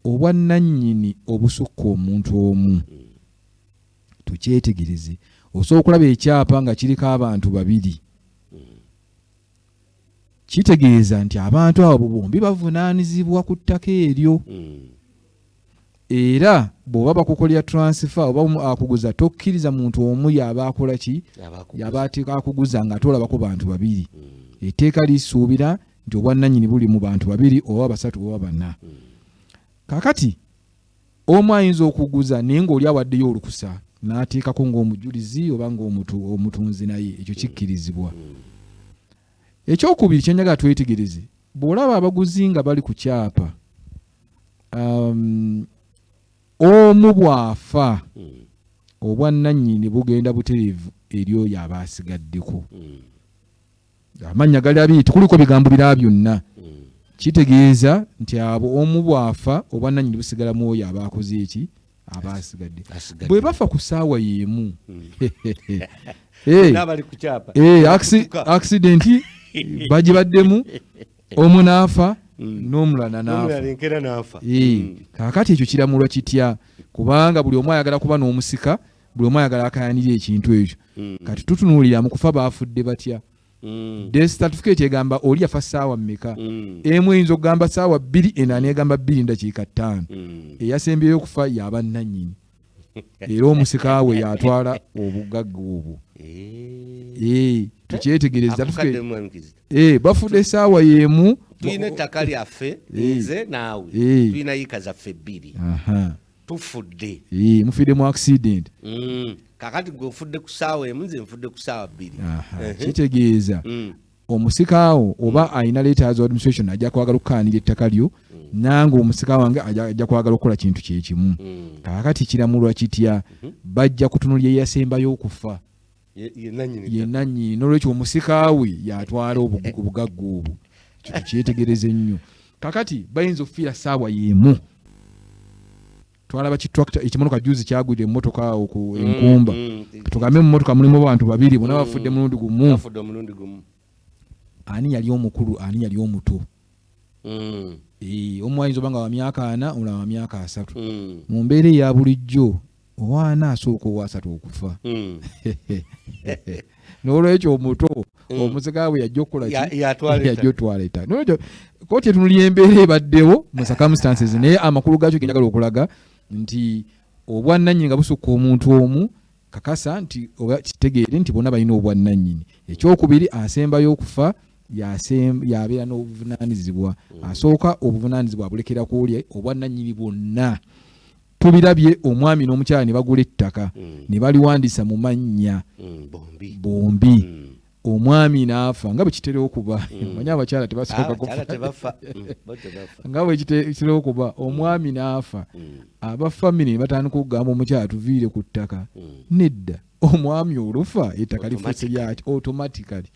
Obwannannyini obusukka omuntu omu. Tukyetegereze. Osobola okulaba ekyapa nga kiriko abantu babiri. Kitegeeza nti abantu abo bombi bavunaanizibwa ku ttaka eryo. Mm. era bwoba bakukolera transfer oba akuguza tokkiriza muntu omu yaba akola ki yaba akuguza nga atolabako bantu babiri mm. eteeka lisuubira nti obwannanyini buli mu bantu babiri oba basatu oba bana hmm. kakati omu ayinza okuguza naye ngaoli awaddeyo olukusa n'ateekako ng'omujulizi oba ngaomutunzi naye ekyo hmm. kikkirizibwa hmm. ekyokubiri kyenjagala twetegereze bw'olaba abaguzi nga bali ku kyapa um, omu bw'afa obwannanyini bugenda butereevu eri oyo aba asigaddeko amannya gali abiri tekuliko bigambo bira byonna hmm. kitegeeza nti abo omu bwafa obwananyini busigala mu oyo aba akoze eki aba asigadde bwe bafa ku saawa y'emu hmm. eh, eh, akisidenti bagibaddemu omu n'afa hmm. n'omulala n'afa kaakati ekyo kiramulwa kitya kubanga buli omu ayagala kuba n'omusika buli omu ayagala akayanire ekintu ekyo hmm. kati tutunuulira mu kufa baafudde batya hmm. desitatifikeeti egamba oli yafa saawa mmeka hmm. emu eyinza okugamba saawa bbiri ena negamba bbiri ndakiika ttaano eyasembyeyo okufa yaba nnannyini era omusika we yatwala obugagga obwo eh. Eh, tukyetegereza eh, bafudde esaawa yemu tulina ettaka lyaffe nze naawe tulina yika zaffe bbiri tufudde ee mufidde mu accident mm. kakati gwe ofudde ku saawa emu nze nfudde ku saawa bbiri kitegeeza mm. omusikaawo oba mm. alina letters of administration ajja kwagala okukaanira ettaka lyo mm. nange omusika wange ajja kwagala okukola kintu kyekimu mm. kakati kiramulwa kitya mm-hmm. bajja kutunulya eyasembayo okufa ye nannyini nolwekyo omusikaawe yatwala obugagga obwo kino kyetegereze nnyo kakati bayinza okufiira saawa yemu twalaba kitrakta ekimotoka juzi kyagwira emotoka awo ku mm, enkumba mm, tugambe mumotoka mulimu bantu babiri bona bafudde mulundi gumu ani yali omukulu ani yali omuto mm. e, omu ayinza oba nga wamyaka ana omulala wamyaka asatu mm. mu mbeera eya bulijjo owaana asooka owasatu okufa mm. nolwekyo omuto mm. omusika bwe yajja okukolakiyajja otwala eta nolwekyo koti etunuli embeera ebaddewo mu circumstances naye amakulu gaakyo genjagala okulaga nti obwannanyini nga busukka omuntu omu kakasa nti oba kitegeere nti bona balina obwannannyini ekyokubiri asembayo okufa yabeera n'obuvunaanyizibwa mm. asooka obuvunaanyizibwa abulekera ku oli obwannannyini bwonna tubirabye omwami n'omukyala ne bagula ettaka mm. ne baliwandiisa mu mannya mm, bombi omwami n'afa nga bwe kitera okuba mm. manya abakyala tebasooka ah, kufa mm, nga bwe kitera okuba mm. omwami n'afa aba famire ne batandika okugamba omukyala tuviire ku ttaka nedda omwami olufa ettaka lifuuse lyaki automatically mm.